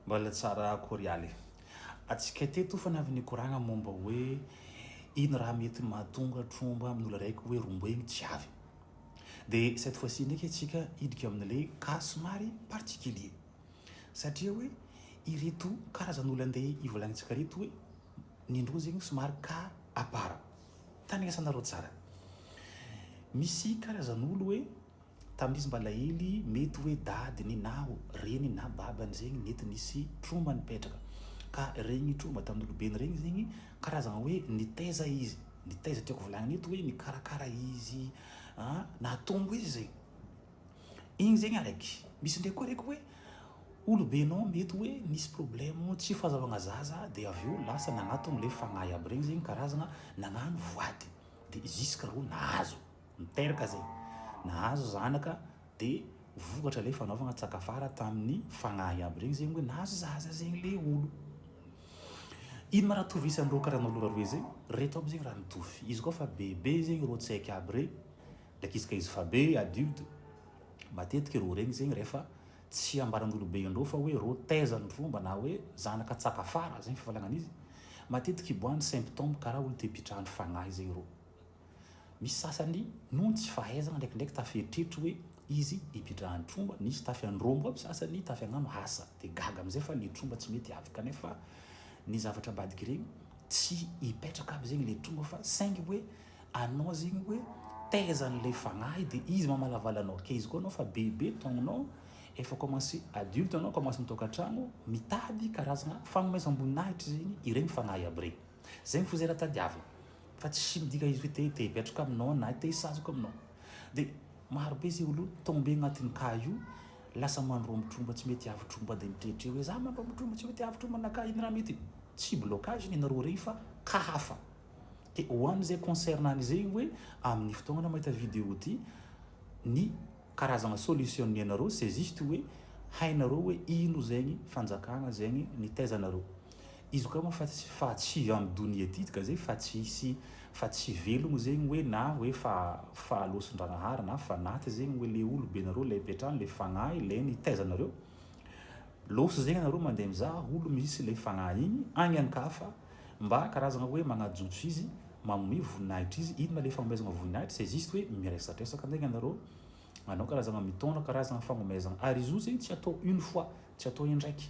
Mbola tsara akory aly atsika teto fa navy nikoragna momba hoe ino raha mety mahatonga tromba amin'ny olona raiky hoe romboigny tsy avy. De cette fois ci ndraiky atsika hidika amin'le cas somary particulier satria hoe ireto karazan'olo ande ivolagnintsika reto hoe ny ndroa zegny somary cas à part. Tandrinesanareo tsara. Misy karazan'olo hoe. Tamin'izy mba lahily, mety hoe dadiny na reniny na babany zegny nety nisy trauma nipetraka. Ka regny trauma tamin'ny olobeny regny zegny karazagna hoe nitaiza izy, nitaiza tiako volagnina eto hoe nikarakara izy an, nahatonga izy zegny. Igny zegny araiky. Misy ndraiky koa araiky hoe olobenao mety hoe nisy problème tsy fahazahoagna zaza dia avy eo lasa nagnatogno le fagnahy aby regny zegny karazagna nagnano voady dia juska rô nahazo. Niteraka izay nahazo zanaka dia vokatra ilay fanaovana tsakafara tamin'ny fagnahy iaby ireny izay hoe nahazo zaza izay ilay olo. Ino ma raha tovisan reo karazana olo roe zay? Reto aby zegny raha mitovy. Izy koa fa bebe zegny reo tsaiky aby re, ndraiky izy ka izy fa be adulte, matetiky reo regny zegny rehefa tsy ambaran'olobe andreo fa hoe reo taiza ny fomba na hoe zanaka tsakafara, zay ny fifaliagnan'izy, matetiky hiboahan'ny symptômes karaha olo te-pitrahany fagnahy zay reo. Misy sasany noho ny tsy fahaizana ndraikindraiky tafy eritreritry hoe izy hipidrahany tromba, nisy tafy andrombo aby sasany tafy agnano asa de gaga amizay fa le tromba tsy mety avy kanefa ny zavatra ambadika regny tsy hipetraka aby zegny le tromba fa saingy hoe anao zegny hoe tehezany le fagnahy de izy mamalavala anao ke izy koa anao fa bebe taognonao efa commence adulte anao commence mitokantragno mitady karazagna fagnomezam-boninahitry zegny iregny fagnahy aby regny zegny fo zay raha tadiavigny fa tsy midika izy hoe te te hipetraka aminao na te hisazaka aminao dia maro be izay olona tombe agnatin'ny cas io lasa mandrombo tromba tsy mety avy tromba dia mitretreo hoe za mandrombo tromba tsy mety avy tromba na cas ino raha mety tsy blocage ny nareo rey fa cas hafa dia ho an'izay concerne an'izay hoe amin'ny fotoagnana mahita vidéo ity ny karazagna solution ny anareo c'est juste hoe hainareo hoe ino zegny fanjakagna zegny nitaizanareo Izy koa moa fa tsy fa tsy en donia ty ka zay fa tsy hisy fa tsy velogno zegny hoe na hoe fa fa alosin-dragnahary na fanaty zegny hoe le olo be nareo lay petrany le fagnahy lay nitaiza nareo loso zegny nareo mandeha mizaha olo misy lay fagnahy igny agny an ka fa mba karazagna hoe magnajotso izy magnome voninahitry izy inona le fagnomezagna voninahitry c'est juste hoe miresatresaka ndegna nareo manao karazagna mitondra karazagna fagnomezagna ary izy io zegny tsy atao une fois tsy atao indraiky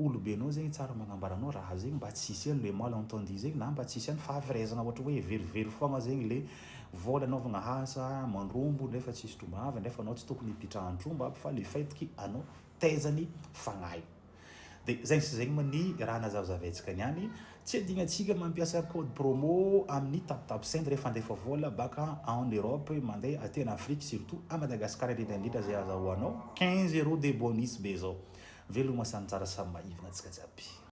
olobenao zegny tsara magnambara anao raha zegny mba tsy hisy any le mal entendu zegny na mba tsy hisy any fahaverezana ohatry hoe verivery foagna zegny le vola anaovagna asa mandrombo nefa tsisy tromba avy nefa anao tsy tokony hipitrahan'ny tromba aby fa le fait que anao taiza ny fagnahy de zegny sy zegny moa ny raha nazavazavaintsika niany Tsy adinontsika mampiasa code promo amin'ny taptapsend rehefa handefa vola baka en Europe mandeha aty en Afrique surtout à Madagascar indrindra indrindra zay azahoanao quinze euros de bonus be zao. Veloma samy tsara samy maivina antsika jiaby.